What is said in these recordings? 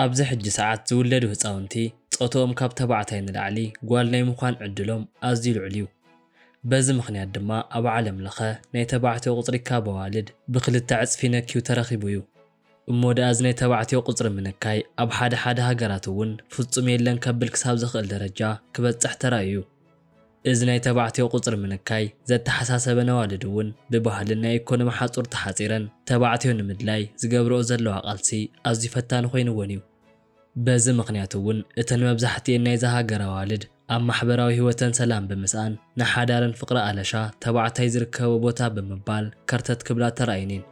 ኣብዚ ሕጂ ሰዓት ዝውለዱ ህጻውንቲ ጾትኦም ካብ ተባዕታይ ንላዕሊ ጓል ናይ ምዃን ዕድሎም ኣዝዩ ልዑል እዩ። በዚ ምኽንያት ድማ ኣብ ዓለም ለኸ ናይ ተባዕትዮ ቁጽሪ ካብ ኣዋልድ ብክልተ ዕጽፊ ነክዩ ተረኺቡ እዩ። እሞ ድኣ እዚ ናይ ተባዕትዮ ቁጽሪ ምንካይ ኣብ ሓደ ሓደ ሃገራት እውን ፍጹም የለን ከብል ክሳብ ዘኽእል ደረጃ ክበጽሕ ተራእዩ። እዚ ናይ ተባዕትዮ ቁጽሪ ምንካይ ዘተሓሳሰበን ኣዋልድ እውን ብባህልን ናይ ኢኮኖሚ ሓጹር ተሓጺረን ተባዕትዮ ንምድላይ ዝገብርኦ ዘለዋ ቃልሲ ኣዝዩ ፈታኒ ኮይንወን እዩ። በዚ ምኽንያት እውን እተን መብዛሕቲኤን ናይዛ ሃገር ኣዋልድ ኣብ ማሕበራዊ ህይወተን ሰላም ብምስኣን ንሓዳረን ፍቕሪ ኣለሻ ተባዕታይ ዝርከቦ ቦታ ብምባል ከርተት ክብላ ተራእየን እየን።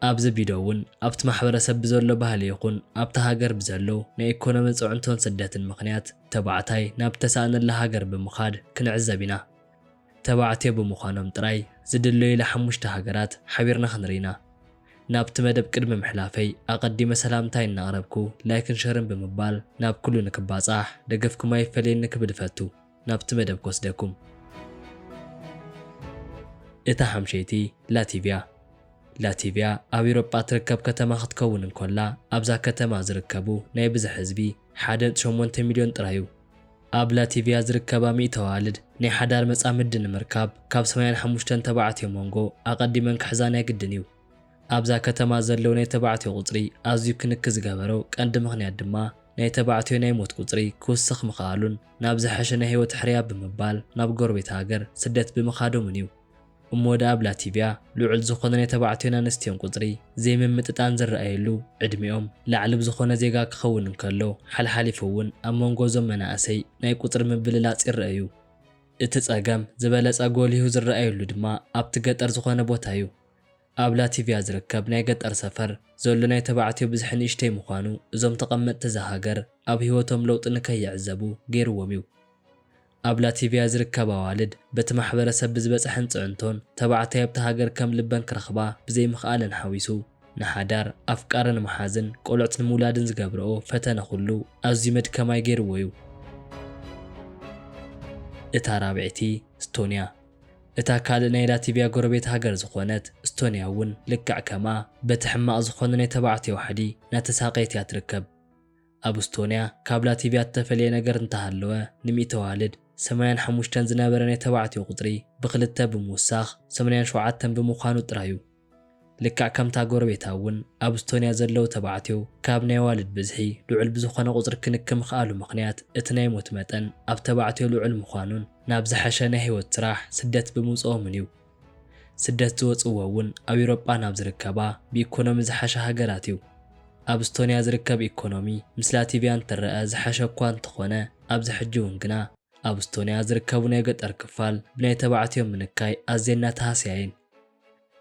ኣብዚ ቢዶ እውን ኣብቲ ማሕበረሰብ ብዘሎ ባህሊ ይኹን ኣብታ ሃገር ብዘሎ ናይ ኢኮኖሚ ፅዕንቶን ስደትን ምኽንያት ተባዕታይ ናብ ዝተሳእነላ ሃገር ብምኻድ ክንዕዘብ ኢና። ተባዕትዮ ብምዃኖም ጥራይ ዝድለዩላ ሓሙሽተ ሃገራት ሓቢርና ክንርኢ ኢና። ናብቲ መደብ ቅድሚ ምሕላፈይ ኣቐዲመ ሰላምታይ እናቕረብኩ ላይክን ሸርን ብምባል ናብ ኩሉ ንክባጻሕ ደገፍኩም ኣይፈለየኒ ክብል እፈቱ። ናብቲ መደብ ክወስደኩም። እታ ሓምሸይቲ ላቲቭያ። ላቲቭያ ኣብ ኢሮጳ እትርከብ ከተማ ክትከውን እንኮላ ኣብዛ ከተማ ዝርከቡ ናይ ብዝሒ ህዝቢ ሓደ ነጥቢ ሸሞንተ ሚልዮን ጥራይ እዩ። ኣብ ላቲቭያ ዝርከባ ሚእቲ ኣዋልድ ናይ ሓዳር መጻምዲ ንምርካብ ካብ ሰማንያን ሓሙሽተን ተባዕትዮ ሞንጎ ኣቐዲመን ክሕዛ ናይ ግድን እዩ። ኣብዛ ከተማ ዘለዉ ናይ ተባዕትዮ ቁጽሪ ኣዝዩ ክንኪ ዝገበሮ ቀንዲ ምኽንያት ድማ ናይ ተባዕትዮ ናይ ሞት ቁጽሪ ክውስኽ ምኽኣሉን ናብ ዝሐሸ ናይ ህይወት ሕርያ ብምባል ናብ ጎረቤት ሃገር ስደት ብምኻዶምን እዩ። እሞ ደኣ ኣብ ላቲቭያ ልዑል ዝኾነ ናይ ተባዕትዮን ኣንስትዮን ቁጽሪ ዘይምምጥጣን ዝረኣየሉ ዕድሚኦም ላዕሊ ብዝኾነ ዜጋ ክኸውን እንከሎ ሓልሓሊፉ እውን ኣብ መንጎ እዞም መናእሰይ ናይ ቁጽሪ ምብልላጽ ይረኣ እዩ። እቲ ጸገም ዝበለጸ ጎሊሁ ዝረኣየሉ ድማ ኣብቲ ገጠር ዝኾነ ቦታ እዩ። ኣብ ላቲቭያ ዝርከብ ናይ ገጠር ሰፈር ዘሎ ናይ ተባዕትዮ ብዝሒ ንእሽተይ ምዃኑ እዞም ተቐመጥቲ እዛ ሃገር ኣብ ህይወቶም ለውጢ ንከይዕዘቡ ገይርዎም እዩ። ኣብ ላቲቭያ ዝርከብ ኣዋልድ በቲ ማሕበረሰብ ብዝበፀሐን ፅዕንቶን ተባዕታይ ኣብታ ሃገር ከም ልበን ክረኽባ ብዘይምኽኣለን ሓዊሱ ንሓዳር፣ ኣፍቃሪ ንምሓዝን ቆልዑት ንምውላድን ዝገብረኦ ፈተነ ኩሉ ኣዝዩ መድከማይ ገይርዎ እዩ። እታ ራብዐይቲ ስቶንያ። እታ ካልእ ናይ ላቲቭያ ጎረቤት ሃገር ዝኾነት ስቶንያ እውን ልክዕ ከምኣ በቲ ሕማቕ ዝኾነ ናይ ተባዕትዮ ሓዲ እናተሳቐየት እያ ትርከብ። ኣብ እስቶንያ ካብ ላቲቭያ እተፈልየ ነገር እንተ ሃለወ፣ ንሚእቲ ኣዋልድ፣ ሰማንያን ሓሙሽተን ዝነበረ ናይ ተባዕትዮ ቁጽሪ ብኽልተ ብምውሳኽ ሰማንያን ሸውዓተን ብምዃኑ ጥራይ እዩ። ልክዕ ከምታ ጎረቤታ እውን ኣብ እስቶንያ ዘለዉ ተባዕትዮ ካብ ናይ ኣዋልድ ብዝሒ ልዑል ብዝኾነ ቁጽሪ ክንክ ምኽኣሉ ምኽንያት እቲ ናይ ሞት መጠን ኣብ ተባዕትዮ ልዑል ምዃኑን ናብ ዝሐሸ ናይ ሕይወት ስራሕ ስደት ብምውጽኦምን እዩ። ስደት ዝወጽእዎ እውን ኣብ ኤውሮጳ ናብ ዝርከባ ብኢኮኖሚ ዝሓሻ ሃገራት እዩ። ኣብ እስቶንያ ዝርከብ ኢኮኖሚ ምስ ላቲቭያ እንትረኣ ዝሓሸ እኳ እንተኾነ ኣብዚ ሕጂ እውን ግና ኣብ እስቶንያ ዝርከቡ ናይ ገጠር ክፋል ብናይ ተባዕትዮ ምንካይ ኣዝየን እናተሃስያ እየን።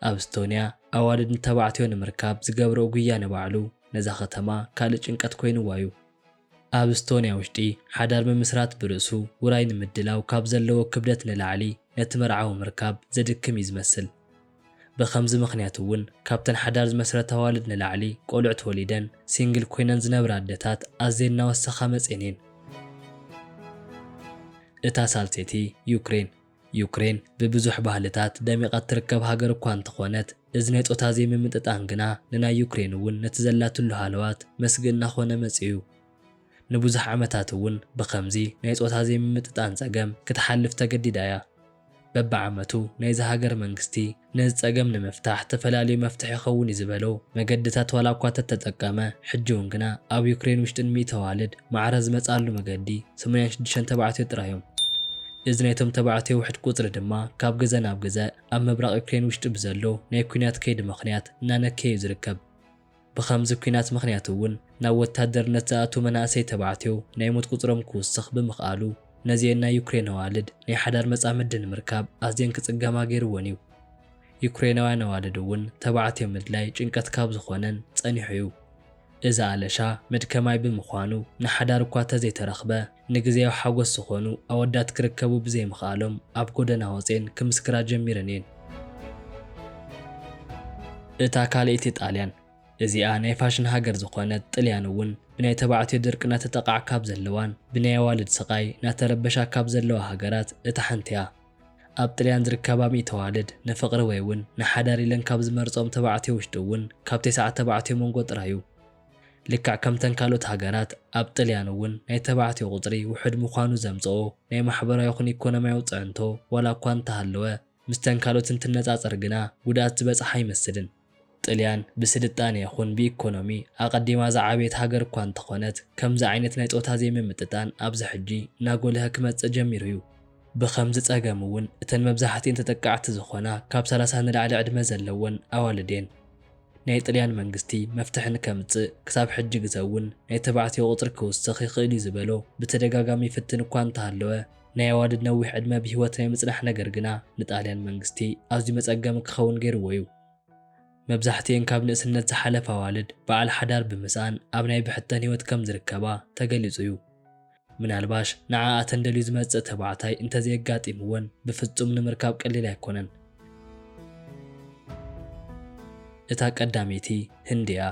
ኣብ እስቶንያ ኣዋልድ ንተባዕትዮ ንምርካብ ዝገብርኦ ጉያ ንባዕሉ ነዛ ከተማ ካልእ ጭንቀት ኮይንዋ እዩ። ኣብ እስቶንያ ውሽጢ ሓዳር ምምስራት ብርእሱ ውራይ ንምድላው ካብ ዘለዎ ክብደት ንላዕሊ ነቲ መርዓዊ ምርካብ ዘድክም እዩ ዝመስል። ብኸምዚ ምኽንያት እውን ካብተን ሓዳር ዝመስረታ ኣዋልድ ንላዕሊ ቆልዑት ወሊደን ሲንግል ኮይነን ዝነብራ ኣደታት ኣዝየን እናወሰኻ መፅኤን እየን። እታ ሳልሰይቲ ዩክሬን። ዩክሬን ብብዙሕ ባህልታት ደሚቓ እትርከብ ሃገር እኳ እንተኾነት፣ እዚ ናይ ጾታ ዘይምምጥጣን ግና ንናይ ዩክሬን እውን ነቲ ዘላትሉ ሃለዋት መስግእ እናኾነ መጺኡ። ንብዙሕ ዓመታት እውን ብኸምዚ ናይ ጾታ ዘይምምጥጣን ጸገም ክትሓልፍ ተገዲዳ እያ። በብዓመቱ ናይዛ ሃገር መንግስቲ ነዚ ጸገም ንምፍታሕ ተፈላልዩ መፍትሒ ይኸውን እዩ ዝበሎ መገድታት ዋላ እኳ ተተጠቀመ፣ ሕጂውን ግና ኣብ ዩክሬን ውሽጢ ንሚእቲ ኣዋልድ ማዕረ ዝመጽኣሉ መገዲ ሰማንያን ሽዱሽተን ተባዕትዮ ጥራይ እዮም። እዚ ናይቶም ተባዕትዮ ውሕድ ቁጽሪ ድማ ካብ ግዘ ናብ ግዘ ኣብ ምብራቕ ዩክሬን ውሽጢ ብዘሎ ናይ ኲናት ከይዲ ምኽንያት እናነከየ እዩ ዝርከብ። ብኸምዚ ኲናት ምኽንያት እውን ናብ ወታደርነት ዝኣትው መናእሰይ ተባዕትዮ ናይ ሞት ቁፅሮም ክውስኽ ብምኽኣሉ ነዚኤን ናይ ዩክሬን ኣዋልድ ናይ ሓዳር መፃምዲ ንምርካብ ኣዝየን ክፅገማ ገይሩወን እዩ። ዩክሬናውያን ኣዋልድ እውን ተባዕትዮ ምድላይ ጭንቀት ካብ ዝኾነን ፀኒሑ እዩ። እዚ ኣለሻ መድከማይ ብምዃኑ ንሓዳር እኳ ተዘይተረኽበ፣ ንግዝያዊ ሓጎስ ዝኾኑ ኣወዳት ክርከቡ ብዘይምኽኣሎም ኣብ ጎደና ወጽየን ክምስክራ ጀሚረን እየን። እታ ካልእይቲ ጣልያን፣ እዚኣ ናይ ፋሽን ሃገር ዝኾነት ጥልያን እውን ብናይ ተባዕትዮ ድርቂ ናተጠቓዕ ካብ ዘለዋን ብናይ ኣዋልድ ስቓይ ናተረበሻ ካብ ዘለዋ ሃገራት እታ ሓንቲ እያ። ኣብ ጥልያን ዝርከባ ሚእቲ ኣዋልድ ንፍቕሪ ወይ እውን ንሓዳር ኢለን ካብ ዝመርጽኦም ተባዕትዮ ውሽጢ እውን ካብ ቴስዓ ተባዕትዮ መንጎ ጥራይ እዩ። ልክዕ ከምተን ካልኦት ሃገራት ኣብ ጥልያን እውን ናይ ተባዕትዮ ቁጽሪ ውሑድ ምዃኑ ዘምጽኦ ናይ ማሕበራዊ ይኹን ኢኮኖሚያዊ ጽዕንቶ ዋላ እኳ እንተሃለወ ምስተን ካልኦት እንትነጻጸር ግና ጉድኣት ዝበጽሓ ኣይመስልን። ጥልያን ብስልጣነ ይኹን ብኢኮኖሚ ኣቐዲማ ዝዓበየት ሃገር እኳ እንተኾነት ከምዚ ዓይነት ናይ ጾታ ዘይምምጥጣን ኣብዚ ሕጂ እናጎልሀ ክመጽእ ጀሚሩ እዩ። ብኸምዚ ጸገም እውን እተን መብዛሕትኤን ተጠቃዕቲ ዝኾና ካብ ሰላሳ ንላዕሊ ዕድመ ዘለወን ኣዋልድ እየን። ናይ ጥልያን መንግስቲ መፍትሒ ንከምጽእ ክሳብ ሕጂ ግዘ'ውን ናይ ተባዕትዮ ቁጽሪ ክውስኽ ይኽእል'ዩ ዝበሎ ብተደጋጋሚ ይፍትን እኳ እንተሃለወ፣ ናይ ኣዋልድ ነዊሕ ዕድመ ብህይወት ናይ ምጽናሕ ነገር ግና ንጣልያን መንግስቲ ኣዝዩ መጸገሚ ክኸውን ገይርዎ'ዩ። መብዛሕትኤን ካብ ንእስነት ዝሓለፋ ኣዋልድ በዓል ሓዳር ብምስኣን ኣብ ናይ ብሕተን ህይወት ከምዝርከባ ተገሊጹ'ዩ። ምናልባሽ ንዓኣተን ደልዩ ዝመጽእ ተባዕታይ እንተዘየጋጢምወን ብፍጹም ንምርካብ ቀሊል ኣይኮነን። እታ ቀዳመይቲ ህንዲ እያ።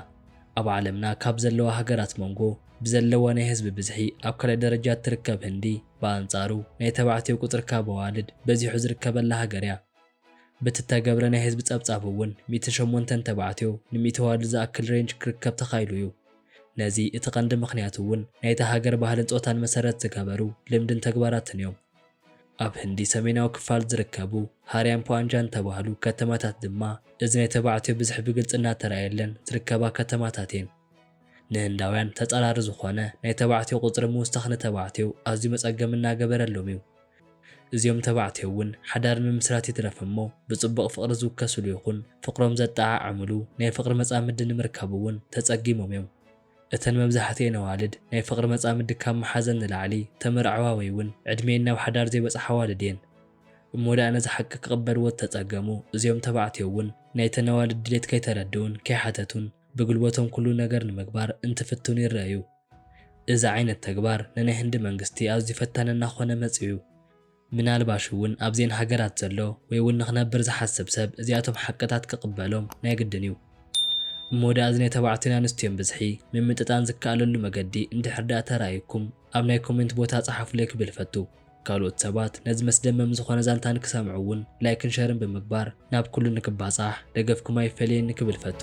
ኣብ ዓለምና ካብ ዘለዋ ሃገራት ሞንጎ ብዘለዋ ናይ ህዝቢ ብዝሒ ኣብ ካልኣይ ደረጃ እትርከብ ህንዲ ብኣንጻሩ ናይ ተባዕትዮ ቁጽሪ ካብ ኣዋልድ በዚሑ ዝርከበላ ሃገር እያ። በቲ እተገብረ ናይ ህዝቢ ጸብጻብ እውን ሚእትን ሸሞንተን ተባዕትዮ ንሚእቲ ኣዋልድ ዝኣክል ሬንጅ ክርከብ ተኻኢሉ እዩ። ነዚ እቲ ቀንዲ ምኽንያት እውን ናይታ ሃገር ባህልን ጾታን መሰረት ዝገበሩ ልምድን ተግባራትን እዮም። ኣብ ህንዲ ሰሜናዊ ክፋል ዝርከቡ ሃርያምፖ ኣንጃን እተባህሉ ከተማታት ድማ እዚ ናይ ተባዕትዮ ብዝሒ ብግልጺ እናተራእየለን ዝርከባ ከተማታት እየን። ንህንዳውያን ተጻራሪ ዝኾነ ናይ ተባዕትዮ ቁጽሪ ምውሳኽ ንተባዕትዮ ኣዝዩ መጸገሚ እናገበረሎም እዩ። እዚኦም ተባዕትዮ እውን ሓዳር ምምስራት ይትረፍ እሞ ብጽቡቕ ፍቕሪ ዝውከስሉ ይኹን ፍቕሮም ዘጠዓዕምሉ ናይ ፍቕሪ መጻምዲ ንምርካብ እውን ተጸጊሞም እዮም። እተን መብዛሕትኤን ኣዋልድ ናይ ፍቕሪ መጻምዲ ካብ ምሓዘን ንላዕሊ ተመርዕዋ ወይ እውን ዕድሜኤን ናብ ሓዳር ዘይበጽሓ ኣዋልድ እየን። እሞ ደኣ ነዚ ሓቂ ክቕበልዎ ዝተጸገሙ እዚኦም ተባዕትዮ እውን ናይተን ኣዋልድ ድሌት ከይተረድኡን ከይሓተቱን ብግልቦቶም ኩሉ ነገር ንምግባር እንትፍትኑ ይረኣዩ። እዚ ዓይነት ተግባር ንናይ ህንዲ መንግስቲ ኣዝዩ ፈታኒ እናኾነ መጺኡ። ምናልባሽ እውን ኣብዘን ሃገራት ዘሎ ወይ እውን ንኽነብር ዝሓስብ ሰብ እዚኣቶም ሓቅታት ክቕበሎም ናይ ግድን እዩ። እሞ ድኣ እዚ ናይ ተባዕትዮን ኣንስትዮን ብዝሒ ምምጥጣን ዝከኣለሉ መገዲ እንድሕር ድኣ ተራእዩኩም ኣብ ናይ ኮሜንት ቦታ ጸሓፉለይ ክብል እፈቱ። ካልኦት ሰባት ነዚ መስደመም ዝኾነ ዛንታ ንክሰምዑ እውን ላይክን ሸርን ብምግባር ናብ ኩሉ ንክባጻሕ ደገፍኩም ኣይፈለየኒ ክብል እፈቱ።